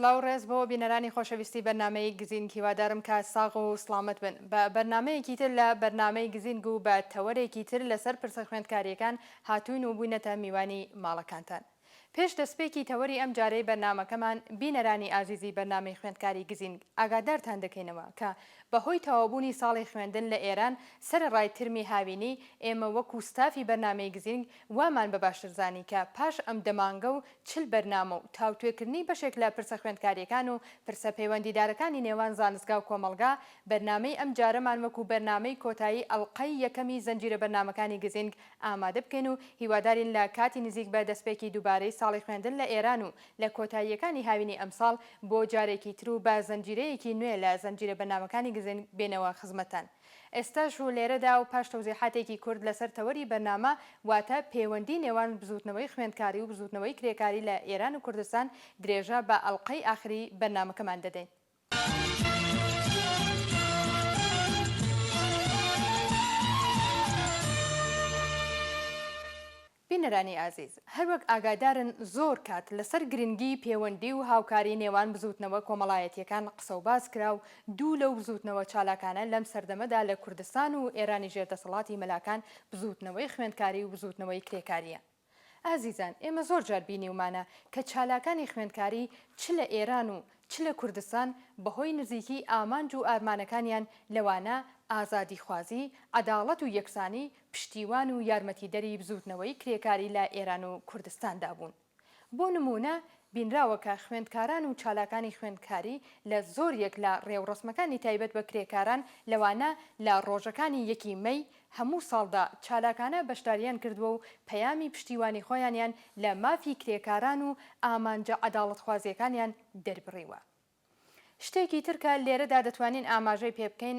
سڵاو و ڕێز بۆ بینەرانی خۆشەویستی بەرنامەی گزینگ هیوادارم کە ساغ و سڵامەت بن بە بەرنامەیەکی تر لە بەرنامەی گزینگ و بە تەوەرێکی تر لەسەر پرسە خوێندکاریەکان هاتووین و بووینەتە میوانی ماڵەکانتان. پێش دەستپێکی تەوەری ئەم جارەی بەرنامەکەمان، بینەرانی ئازیزی بەرنامەی خوێندکاری گزینگ ئاگادارتان دەکەینەوە کە بە هۆی تەواوبوونی ساڵی خوێندن لە ئێران سەرەڕای ترمی هاوینی، ئێمە وەکوو ستافی بەرنامەی گزینگ وامان بە باشتر زانی کە پاش ئەم دە مانگە و چل بەرنامە و تاوتوێکردنی بەشێک لە پرسە خوێندکارییەکان و پرسە پەیوەندیدارەکانی نێوان زانستگا و کۆمەڵگا، بەرنامەی ئەم جارەمان وەکوو بەرنامەی کۆتایی ئەڵقەی یەکەمی زنجیرە بەرنامەکانی گزینگ ئامادە بکەین و هیوادارین لە کاتی نزیک بە دەستپێکی دووبارەی ساڵی خوێندن لە ئێران و لە کۆتاییەکانی هاوینی ئەمساڵ بۆ جارێکی تر و بە زنجیرەیەکی نوێ لە زنجیرە بەرنامەکانی گزنگ بێینەوە خزمەتتان ئێستاش و لێرەدا و پاش تەوزیحاتێکی کورت لەسەر تەوەری بەرنامە واتە پێوەندی نێوان بزووتنەوەی خوێندکاری و بزووتنەوەی کرێکاری لە ئێران و کوردستان درێژە بە ئەڵقەی ئاخری بەرنامەکەمان دەدەین. بینەرانی ئازیز، هەروەک ئاگادارن زۆر کات لەسەر گرنگیی پێوەندی و هاوکاری نێوان بزووتنەوە کۆمەڵایەتییەکان قسە و باس کرا و دوو لەو بزووتنەوە چالاکانە لەم سەردەمەدا لە کوردستان و ئێرانی ژێر دەسەڵاتی مەلاکان بزووتنەوەی خوێندکاری و بزووتنەوەی کرێکارییە. ئازیزان ئێمە زۆر جار بینیومانە کە چالاکانی خوێندکاری چ لە ئێران و چ لە کوردستان بە هۆی نزیکیی ئامانج و ئارمانەکانیان لەوانە ئازادیخوازی، عەداڵەت و یەکسانی پشتیوان و یارمەتیدەری بزووتنەوەی کرێکاری لە ئێران و کوردستاندا بوون. بۆ نموونە بینراوە کە خوێندکاران و چالاکانی خوێندکاری لە زۆریەک لە ڕێوڕەسمەکانی تایبەت بە کرێکاران لەوانە لە ڕۆژەکانی یەکی مەی، هەموو ساڵدا چالاکانە بەشدارییان کردووە و پەیامی پشتیوانی خۆیانیان لە مافی کرێکاران و ئامانجە عەداڵەتخوازییەکانیان دەربڕیوە. شتێکی تر کە لێرەدا دەتوانین ئاماژەی پێ بکەین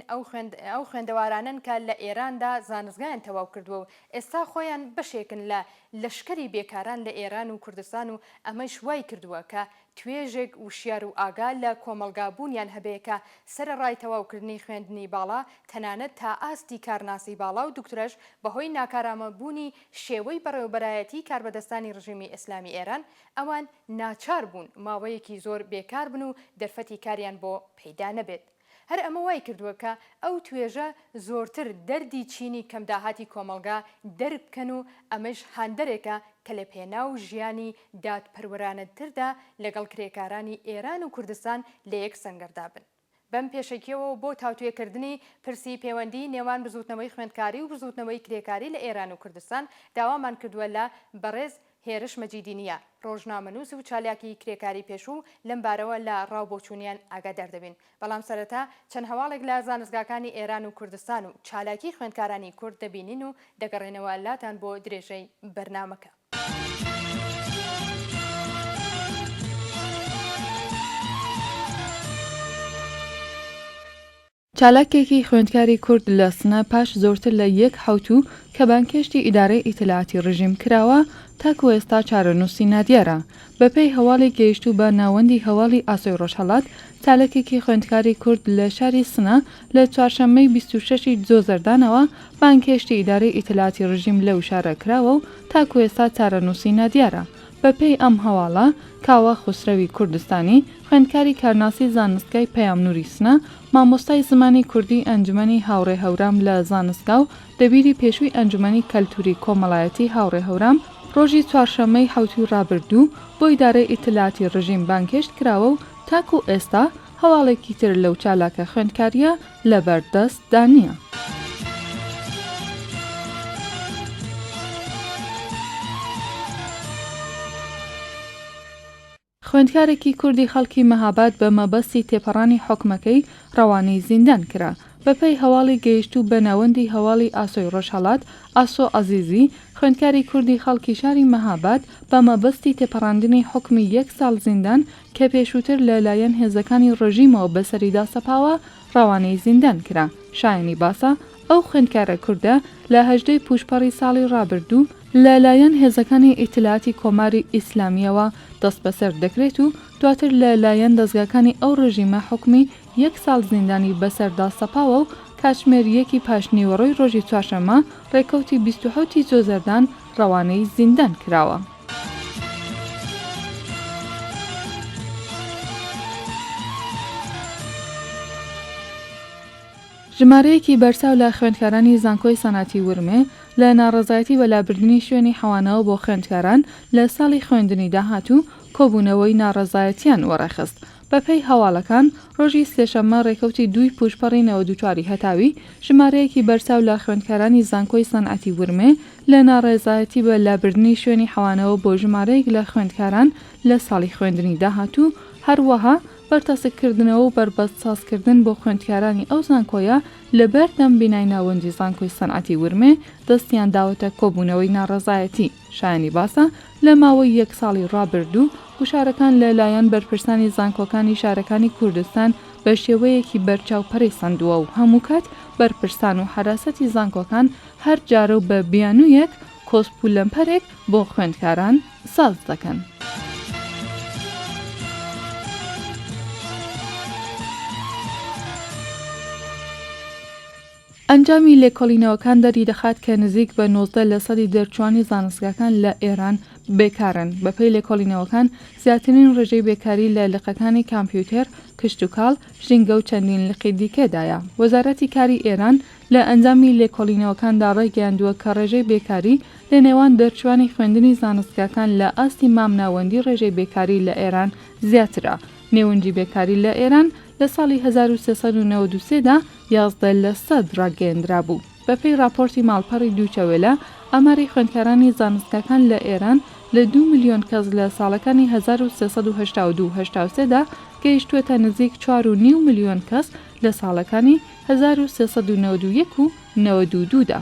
ئەو خوێندەوارانەن کە لە ئێراندا زانستگایان تەواو کردووە و ئێستا خۆیان بەشێکن لە لەشکری بێکاران لە ئێران و کوردستان و ئەمەیش وای کردووە کە توێژێک وشیار و ئاگا لە کۆمەڵگا بوونیان هەبێ کە سەرەڕای تەواوکردنی خوێندنی باڵا تەنانەت تا ئاستی کارناسی باڵا و دوکترەش بەهۆی ناکارامە بوونی شێوەی بەڕێوەبەرایەتی کاربەدەستانی ڕژیمی ئێسلامی ئێران ئەوان ناچار بوون ماوەیەکی زۆر بێکار بن و دەرفەتی کاریان بۆ پەیدا نەبێت. هەر ئەمە وای کردووە کە ئەو توێژە زۆرتر دەردی چینی کەم داهاتی کۆمەڵگا دەرک بکەن و ئەمەیش هاندەرێکە کە لە پێناو ژیانی دادپەروەرانەدتردا لەگەڵ کرێکارانی ئێران و کوردستان لە یەک سەنگەردا بن. بەم پێشەکییەوە و بۆ تاوتوێکردنی پرسی پێوەندیی نێوان بزووتنەوەی خوێندکاری و بزووتنەوەی کرێکاری لە ئێران و کوردستان داوامان کردووە لە بەڕێز هێرش مەجیدی نییە، ڕۆژنامەنووس و چالاکی کرێکاری پێشوو لەم بارەوە لە ڕا و بۆچوونیان ئاگادار دەبین، بەڵام سەرەتا چەند هەواڵێک لە زانستگاکانی ئێران و کوردستان و چالاکی خوێندکارانی کورد دەبینین و دەگەڕێنەوە لاتان بۆ درێژەی بەرنامەکە. چالاکێکی خوێندکاری کورد لە سنە پاش زۆرتر لە یەک حەوتوو کە بانگهێشتی ئیدارەی ئیتلاعاتی رژیم کراوە، تاکوو ئێستا چارەنووسی نادیارە. بەپێی هەواڵی گەیشتوو بە ناوەندی هەواڵی ئاسۆی رۆژهەڵات، چالاکێکی خوێندکاری کورد لە شاری سنە لە چوارشەممەی بیست و شەش ی دزۆ زەردانەوە بانگهێشتی ئیدارەی ئیتلاعاتی رژیم لەو شارە کراوە و تاکوو ئێستا چارەنووسی نادیارە. بەپێی ئەم هەواڵە، کاوە خوسرەوی کوردستانی، خوێندکاری کارناسی زانستگای پەیامنووری سنە، مامۆستای زمانی کوردیی ئەنجومەنی هاوڕێ هەورام لە زانستگا و دەبیری پێشووی ئەنجومەنی کەلتووری کۆمەڵایەتیی هاوڕێ هەورام، ڕۆژی چوارشەممەی حەوتووی ڕابردوو بۆ ئیدارەی ئیتلاعاتی ڕژیم بانگهێشت کراوە و تاکوو ئێستا هەواڵێکی تر لەو چالاکە خوێندکارییە لەبەر دەست دا نیە. خوێندکارێکی کوردی خەڵکی مەهاباد بە مەبەستی تێپەڕانی حوکمەکەی ڕەوانەی زیندان کرا. بە پێی هەواڵی گەیشتوو بە ناوەندی هەواڵی ئاسۆی ڕۆژهەڵات، ئاسۆ عەزیزی، خوێندکاری کوردی خەڵکی شاری مەهاباد بە مەبەستی تێپەڕاندنی حوکمی یەک ساڵ زیندان کە پێشووتر لە لایەن هێزەکانی ڕژیمەوە بەسەریدا سەپاوە، ڕەوانەی زیندان کرا. شایانی باسە، ئەو خوێندکارە کوردە لە هەژدەی پووشپەڕی ساڵی ڕابردوو لە لایەن هێزەکانی ئیتلاعاتی کۆماری ئیسلامییەوە دەستبەسەر دەکرێت و دواتر لە لایەن دەزگاکانی ئەو ڕژیمە حوکمی یەک ساڵ زیندانی بەسەردا سەپاوە و کاتژمێر یەکی پاشنیوەڕۆی ڕۆژی چوارشەممە ڕێکەوتی بیست و حەوت ی جۆزەردان ڕەوانەی زیندان کراوە. ژمارەیەکی بەرچاو لە خوێندکارانی زانکۆی سەنعەتی ورمێ لە ناڕەزایەتی بە لابردنی شوێنی حەوانەوە بۆ خوێندکاران لە ساڵی خوێندنی داهاتوو، کۆبوونەوەی ناڕەزایەتییان وەڕێخست بەپێی هەواڵەکان، ڕۆژی سێشەممە ڕێکەوتی دووی پووشپەڕی نەوەد و چوار ی هەتاوی، ژمارەیەکی بەرچاو لە خوێندکارانی زانکۆی سەنعەتی ورمێ لە ناڕێزایەتی بە لابردنی شوێنی حەوانەوە بۆ ژمارەیەک لە خوێندکاران لە ساڵی خوێندنی داهاتوو، هەروەها بەرتەسک کردنەوە و بەربەست ساز کردن بۆ خوێندکارانی ئەو زانکۆیە لە بەردەم بینای ناوەندی زانکۆی سەنعەتی ورمێ دەستیان داوەتە کۆبوونەوەی ناڕەزایەتی. شایانی باسە لە ماوەی یەک ساڵی ڕابردوو گوشارەکان لە لایەن بەرپرسانی زانکۆکانی شارەکانی کوردستان بە شێوەیەکی بەرچاو پەرەی سەندووە و هەموو کات بەرپرسان و حەراسەتی زانکۆکان هەر جارە و بە بیانوویەک کۆسپ و لەمپەرێک بۆ خوێندکاران ساز دەکەن. ئەنجامی لێکۆڵینەوەکان دەریدەخات کە نزیک بە نۆزدە لەسەدی دەرچووانی زانستگاکان لە ئێران بێکارن، بەپێی لێکۆڵینەوەکان زیاترین ڕێژەی بێکاری لە لقەکانی کامپیوتێر، کشتوکاڵ، ژینگە و چەندین لقی دیکەدایە. وەزارەتی کاری ئێران لە ئەنجامی لێکۆڵینەوەکاندا ڕایگەیاندووە کە ڕێژەی بێکاری لە نێوان دەرچووانی خوێندنی زانستگاکان لە ئاستی مامناوەندی ڕێژەی بێکاری لە ئێران زیاترە. نێونجی بێکاری لە ئێران لە ساڵی هەزار و سێ سەد و نەوەد و سێ دا یازدە لەسەد ڕاگەیەندرابوو. بەپێی ڕاپۆرتی ماڵپەڕی دویچە وێلە، ئاماری خوێندکارانی زانستگاکان لە ئێران لە دوو ملیۆن کەس لە ساڵەکانی هەزار و سێ سەد و هەشتا و دوو هەشتا و سێ دا گەیشتووەتە نزیک چوار و نیو ملیۆن کەس لە ساڵەکانی هەزار و سێ سەد و نەوەد و یەک و نەوەد و دوو دا.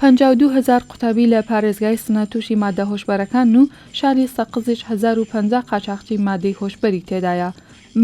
پەنجا و دوو هەزار قوتابی لە پارێزگای سنە تووشی ماددە هۆشبەرەکانن و شاری سەقزیش هەزار و پەنجا قاچاخچی مادەی هۆشبەری تێدایە.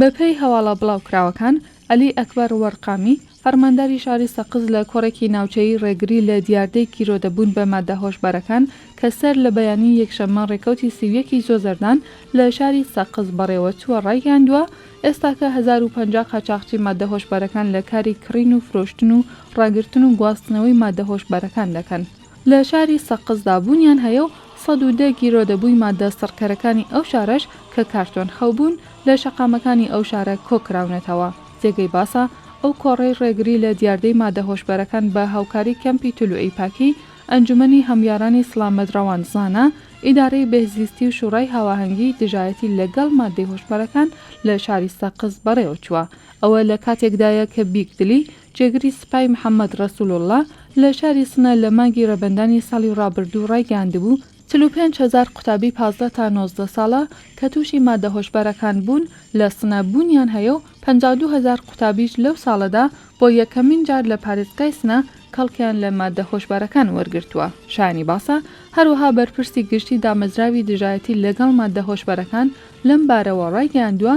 بەپێی هەواڵە بڵاوکراوەکان، عەلی ئەکبەر وەرقامی، فەرمانداری شاری سەقز لە کۆڕێکی ناوچەیی ڕێگری لە دیاردەی گیرۆدەبوون بە ماددە هۆشبەرەکان کە سەر لە بەیانی یەکشەممە ڕێکەوتی سی و یەک ی جۆزەردان لە شاری سەقز بەڕێوەچووە ڕایگەیاندووە، ئێستاکە هەزار و پەنجا قاچاخچی ماددە هۆشبەرەکان لە کاری کڕین و فرۆشتن و ڕاگرتن و گواستنەوەی ماددە هۆشبەرەکان دەکەن. لە شاری سەقزدا بوونیان هەیە و سەد و دە گیرۆدەبووی ماددە سڕکەرەکانی ئەو شارەش کە کارتۆن خەو بوون لە شەقامەکانی ئەو شارە کۆ کراونەتەوە. جێگەی باسە ئەو کۆڕەی ڕێگری لە دیاردەی ماددە هۆشبەرەکان بە هاوکاری کەمپی تلوعی پاکی ئەنجومەنی هەمویارانی سڵامەت ڕەواندزانە ئیدارەی بێهزیستی و شوڕای هاواهەنگی دژایەتی لە گەڵ ماددەی هۆشبەرەکان لە شاری سەقز بەڕێوە چووە. ئەوە لە کاتێکدایە کە بیک دلی، جێگری سپای محەمەد رەسووڵڵا لە شاری سنە لە مانگی رەبەندانی ساڵی رابردوو رایگەیاندبوو، چل و پێنج هەزار قوتابی پازدە تا نۆزدە ساڵە کە تووشی ماددە هۆشبەرەکان بوون لە سنە بوونیان هەیە و پەنجا و دوو هەزار قوتابیش لەو ساڵەدا بۆ یەکەمین جار لە پارێزگای سنە کەڵکیان لە ماددە هۆشبەرەکان وەرگرتووە. شایانی باسە، هەروەها بەرپرسی گشتی دامەزراوی دژایەتی لەگەڵ ماددە هۆشبەرەکان لەم بارەوە ڕایگەیاندووە،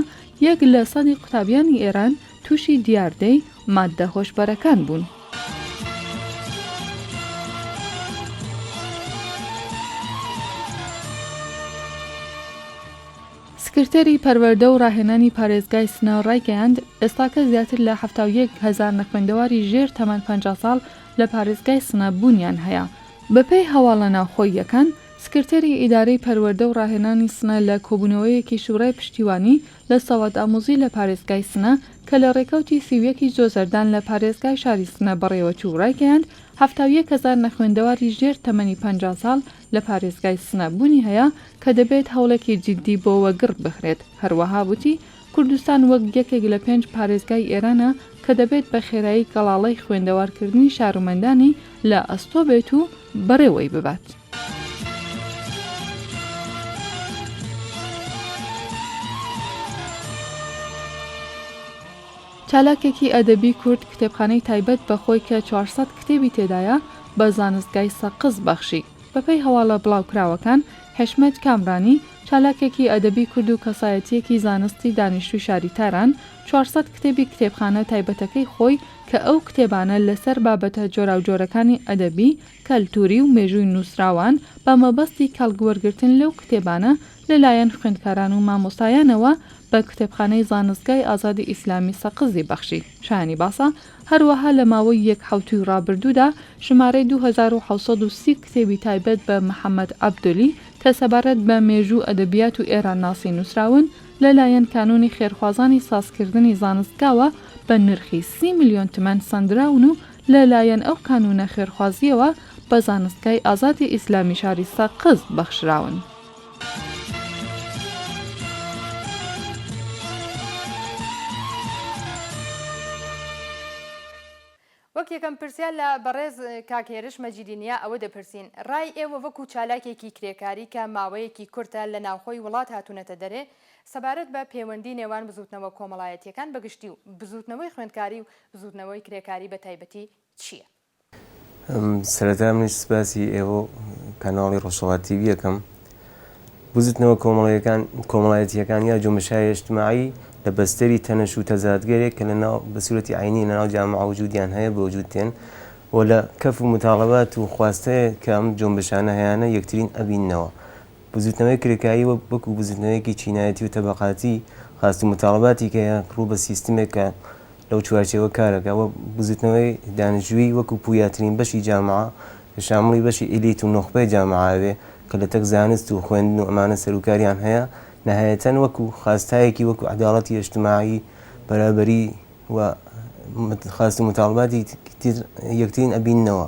یەک لە سەدی قوتابیانی ئێران تووشی دیاردەی ماددە هۆشبەرەکان بوون. سکرتێری پەروەردە و ڕاهێنانی پارێزگای سنە ڕایگەیاند، ئێستاکە زیاتر لە حەفتا و یەک هەزار نەخوێندەواری ژێر تەمەن پەنجا ساڵ لە پارێزگای سنە بوونیان هەیە. بەپێی هەواڵە ناوخۆییەکان، سکرتێری ئیدارەی پەروەردە و ڕاهێنانی سنە لە کۆبوونەوەیەکی شوورای پشتیوانی لە ساواتئامووزی لە پارێزگای سنە کە لە ڕێکەوتی سی و یەک ی جۆزەردان لە پارێزگای شاری سنە بەڕێوەچوو ڕایگەیاند حەفتا و یەک هەزار نەخوێندەواری ژێر تەمەنی پەنجا ساڵ لە پارێزگای سنە بوونی هەیە کە دەبێت هەوڵێکی جیددی بۆ وەگڕ بخرێت. هەروەها وتی، کوردستان وەک یەکێک لە پێنج پارێزگای ئێرانە کە دەبێت بە خێرایی گەڵاڵەی خوێندەوارکردنی شارومەندانی لە ئەستۆ بێت و بەڕێوەی ببات. چالاکێکی ئەدەبی کورد کتێبخانەی تایبەت بە خۆی کە چوار سەد کتێبی تێدایە بە زانستگای سەقز بەخشی. بەپێی هەواڵە بڵاوکراوەکان، حیشمەت کامرانی، چالاکێکی ئەدەبی کورد و کەسایەتییەکی زانستی دانیشتووی شاری تاران، چوار سەد کتێبی کتێبخانە تایبەتەکەی خۆی کە ئەو کتێبانە لەسەر بابەتە جۆراوجۆرەکانی ئەدەبی، کەلتووری و مێژووی نووسراوان، بە مەبەستی کەڵک وەرگرتن لەو کتێبانە لەلایەن خوێندکاران و مامۆستایانەوە بە کتێبخانەی زانستگای ئازادی ئیسلامی سەقزی بەخشی شایانی باسە هەروەها لە ماوەی یەک حەوتووی ڕابردوودا ژمارەی دوو هەزار و حەوت سەد و سی کتێبی تایبەت بە محەمەد عەبدۆلی کە سەبارەت بە مێژوو و ئەدەبیات و ئێرانناسی نووسراون لەلایەن کانوونی خێرخوازانی سازکردنی زانستگاوە بە نرخی سی ملیۆن تمەن سەندراون و لەلایەن ئەو کانوونە خێرخوازییەوە بە زانستگای ئازادی ئیسلامی شاری سەقز بەخشراون. وەک یەکەم پرسیار لە بەڕێز کاک هێرش مەجیدی نیا ئەوە دەپرسین، ڕای ئێوە وەکو چالاکێکی کرێکاری کە ماوەیەکی کورتە لە ناوخۆی وڵات هاتوونەتە دەرێ، سەبارەت بە پێوەندی نێوان بزووتنەوە کۆمەڵایەتییەکان بە گشتی و بزووتنەوەی خوێندکاری و بزووتنەوەی کرێکاری بە تایبەتی چییە؟ سەرەتا منیش سپاسی ئێوە و کەناڵی ڕۆژهەڵات تیڤی یەکەم. بزوتنەوە کۆمەڵەیەکان کۆمەڵایەتییەکان یا جومشای ئیجتماعی لە بەستەری تەنەش و تەزادگەرێک کە لە ناو بە سورەتی عەینی لە ناو جامعە وجودیان هەیە بە وجود دێن و لە کەف و متاڵەبات و خواستەیە کە ئەم جۆمبشانە هەیانە یەکترین ئەبیننەوە. بزووتنەوەی کرێکاری وەک وەکو بزووتنەوەیەکی چینایەتی و تەبەقاتی خواست و متاڵەباتی کە یە ڕوو بە سیستمێک کە لەو چوارچێوە کار ئەکا و بزووتنەوەی دانشجووی وەکو پویاترین بەشی جامعە کە شامڵی بەشی ئیلیت و نوخبەی جامعە ئەوێ کە لە تەک زانست و خوێندن و ئەمانە سەر و کاریان هەیە نەهایەتەن وەکو خواستایەکی وەکو عەداڵەتی ئێجتماعی بەرابەری و خواست و متاڵەباتی یەکترین ئەبیننەوە.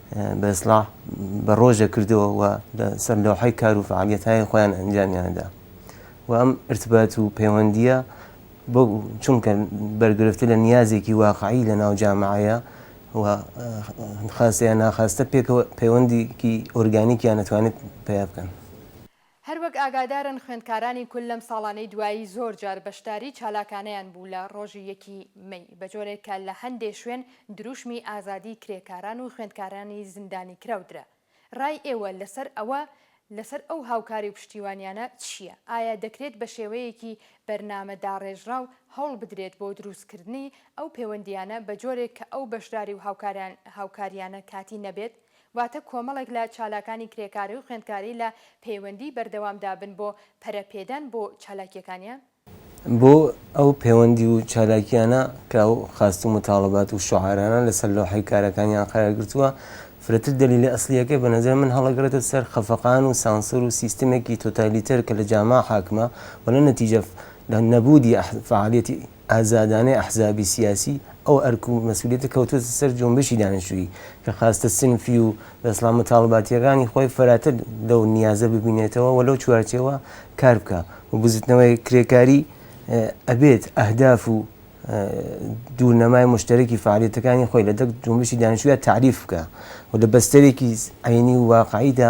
بە ئیسلاح بە ڕۆژێک کردەوە و لە سەر لەوحەی کار و فعالیەتهای خۆیان ئەنجامیاندا و ئەم ارتبات و پەیوەندیە بۆ چونکە بەرگرفتی لە نیازێکی واقعی لە ناو جامعەیە و خاستەیە ناخواستە پێکەوە پەیوەندیکی ئۆرگانیکیان نەتوانێت پیا بکەن. هەروەک ئاگادارن خوێندکارانی کل لەم ساڵانەی دوایی زۆر جار بەشداری چالاکانەیان بوو لە ڕۆژی یەکی مەی، بەجۆرێک کە لە هەندێ شوێن دروشمی ئازادی کرێکاران و خوێندکارانی زیندانیکراو درا. ڕای ئێوە لەسەر ئەوە لەسەر ئەو هاوکاری و پشتیوانیانە چییە؟ ئایا دەکرێت بە شێوەیەکی بەرنامە داڕێژراو هەوڵ بدرێت بۆ دروستکردنی ئەو پێوەندییانە بەجۆرێک کە ئەو بەشداری و هاوکاریانە کاتی نەبێت واتە کۆمەڵێک لە چالاکانی کرێکاری و خوێندکاری لە پەیوەندیی بەردەوامدا بن بۆ پەرەپێدان بۆ چالاکییەکانیان؟ بۆ ئەو پەیوەندی و چالاکییانە کە ئەو خواست و موتاڵەبات و شوعارانە لەسەر لەوحەی کارەکانیان قەرار گرتووە، فرەتر دەلیلی ئەسڵییەکەی بە نەزەر من هەڵەگرێتە سەر خەفەقان و سانسۆر و سیستمێکی تۆتالیتەر کە لە جاما حاکمە و لە نەتیجە لە نەبوودی فەعالییەتی ئازادانەی ئەحزابی سیاسی، ئەو ئەرک و مەسئولیەتە کەوتووەتە سەر جۆنبشی دانیشتوویی، کە خواستە سنفی و دەسڵات متاڵباتییەکانی خۆی فەراتر لەو نیازە ببینێتەوە و لەو چوارچێوە کار بکا و بزوتنەوەی کرێکاری ئەبێت ئەهداف و دوورنەمای مشتەرەکی فەعالیەتەکانی خۆی لە دەق جۆنبشی دانیشتووییا تەعریف بکا و لە بەستەرێکی عەینی و واقعیدا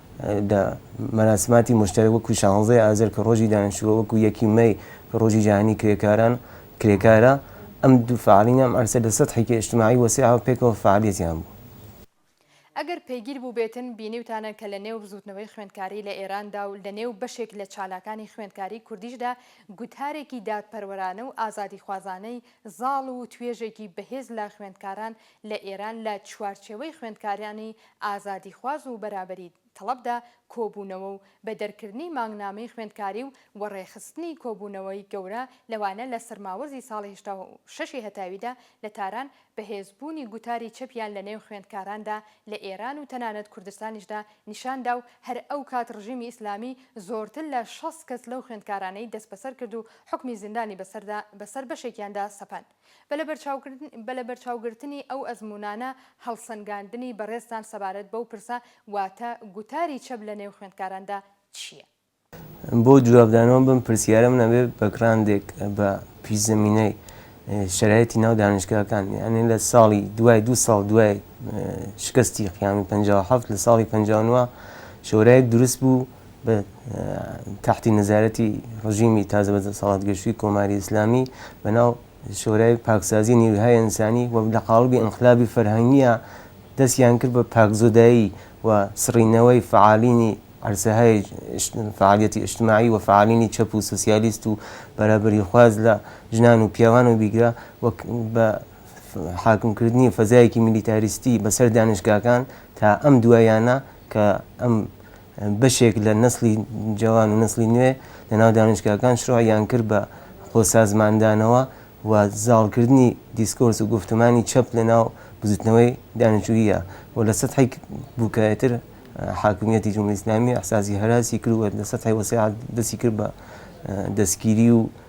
دا، مەراسماتی موشتەرەک وەکو شانزەی ئازەر کە ڕۆژی دانیشتووە وەکو یەکی مەی کە ڕۆژی جیهانی کرێکاران کرێکارە، ئەم دوو فەعالینە ئەم عەرسە لە سەتحێکی ئیجتماعی وەسیعەوە پێکەوە فەعالیەتیان بوو. ئەگەر پەیگیر بووبێتن بینیوتانە کە لە نێو بزووتنەوەی خوێندکاری لە ئێراندا و لە نێو بەشێک لە چالاکانی خوێندکاری کوردیشدا گوتارێکی دادپەروەرانە و ئازادیخوازانەی زاڵ و توێژێکی بەهێز لە خوێندکاران لە ئێران لە چوارچێوەی خوێندکارانی ئازادیخواز و بەرابەری تەڵەبدا کۆبوونەوە و بە دەرکردنی مانگنامەی خوێندکاری و وەڕێخستنی کۆبوونەوەی گەورە لەوانە لە سەرماوەزی ساڵی هەشتا و شەش ی هەتاویدا لە تاران بەهێزبوونی گوتاری چەپیان لە نێو خوێندکاراندا لە ئێران و تەنانەت کوردستانیشدا نیشان دا و هەر ئەو کات ڕژیمی ئیسلامی زۆرتر لە شەست کەس لەو خوێندکارانەی دەستبەسەر کرد و حوکمی زیندانی بەسەردا بەسەر بەشێکیاندا سەپاند. بە لەبەرچاوگرتنی ئەو ئەزموونانە، هەڵسەنگاندنی بەڕێزتان سەبارەت بەو پرسە، واتە گوتاری چەپ لە نێو خوێندکاراندا چییە؟ بۆ جوابدانەوە بەم پرسیارە، من ئەبێ بە گڕاندێک بە پیشزەمینەی شەرایتی ناو دانیشگاکان، یانی لە ساڵی دوای دوو ساڵ دوای شکستی قیامی پەنجا و حەفت لە ساڵی پەنجا و نۆ شۆرایەک دروست بوو، بە تەحتی نەزارەتی ڕژیمی تازە بە دەسەڵات گەشتووی کۆماری ئیسلامی بەناو شۆرای پاکسازی نیوهای ئینسانی و لە قاڵبی ئینقلابی فەرهەنگییە دەستیان کرد بە پاکزۆدایی و سڕینەوەی فەعالینی عەرزەهای فەعالیەتی ئیجتماعی و فەعالینی چەپ و سۆسیالیست و بەرابەریخواز لە ژنان و پیاوان و بیگرە وەک بە حاکمکردنی فەزایەکی میلیتاریستی بەسەر دانشگاکان تا ئەم دوایانە کە ئەم بەشێک لە نەسڵی جەوان و نەسڵی نوێ لە ناو دانشگاکان شروعیان کرد بە خۆ سازماندانەوە و زاڵ کردنی دیسکۆرس و گوفتمانی چەپ لە ناو بزوتنەوەی دانیشجوییە و لە سەتحی بوکایەتر حاکمیەتی جمهوری ئیسلامی ئیحساسی هەراسی کرد و لە سەتحی وەسیعتر دەستی کرد بە دەسگیری و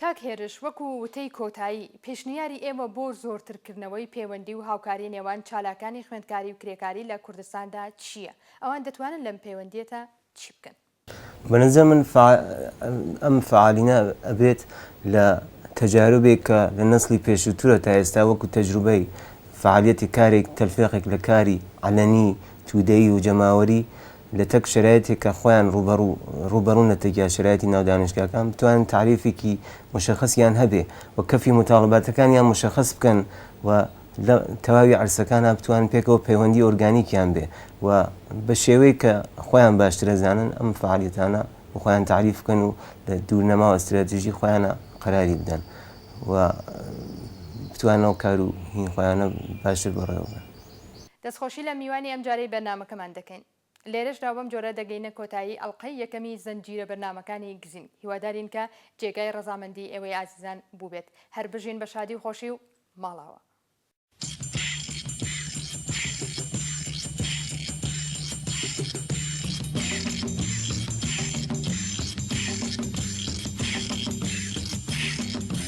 کاک هێرش، وەکو وتەی کۆتایی، پێشنیاری ئێوە بۆ زۆرترکردنەوەی پێوەندی و هاوکاری نێوان چالاکانی خوێندکاری و کرێکاری لە کوردستاندا چییە؟ ئەوان دەتوانن لەم پێوەندییەتا چی بکەن؟ بەنظر من ئەم فعالینە ئەبێت لە تەجاروبێک کە لە نەسڵی پێشووترە تا ئێستا وەکو تەجروبەی فعالیەتی کارێک تەلفێقێک لە کاری عەلەنی، تودەیی و جەماوەری، لە تەک شەرایتێک کە خۆیان ڕووبەڕوو ڕووبەڕوون لە تەک یا شەرایتی ناو دانشگاکان بتوانن تعریفێکی مشخصیان هەبێ و کەفی متاڵباتەکانیان مشخص بکەن و لە تەواوی عەرسەکانا بتوانن پێکەوە پەیوەندی ئۆرگانیکیان بێ و بە شێوەیەک کە خۆیان باشتر ئەزانن ئەم فەعالیەتانە بۆ خۆیان تعریف بکەن و لە دوورنەماوە ستراتیژی خۆیانە قەراری بدەن و بتوانن ئەو کار و هی خۆیانە باشتر بەڕێوە ببەن. دەستخۆشی لە میوانی ئەمجارەی بەرنامەکەمان دەکەین. لێرەشدا بەم جۆرە دەگەینە کۆتایی ئەڵقەی یەکەمی زنجیرە بەرنامەکانی گزینگ، هیوادارین کە جێگای ڕەزامەندی ئێوەی ئازیزان بووبێت. هەر بژین بە شادی و خۆشی و ماڵاوە.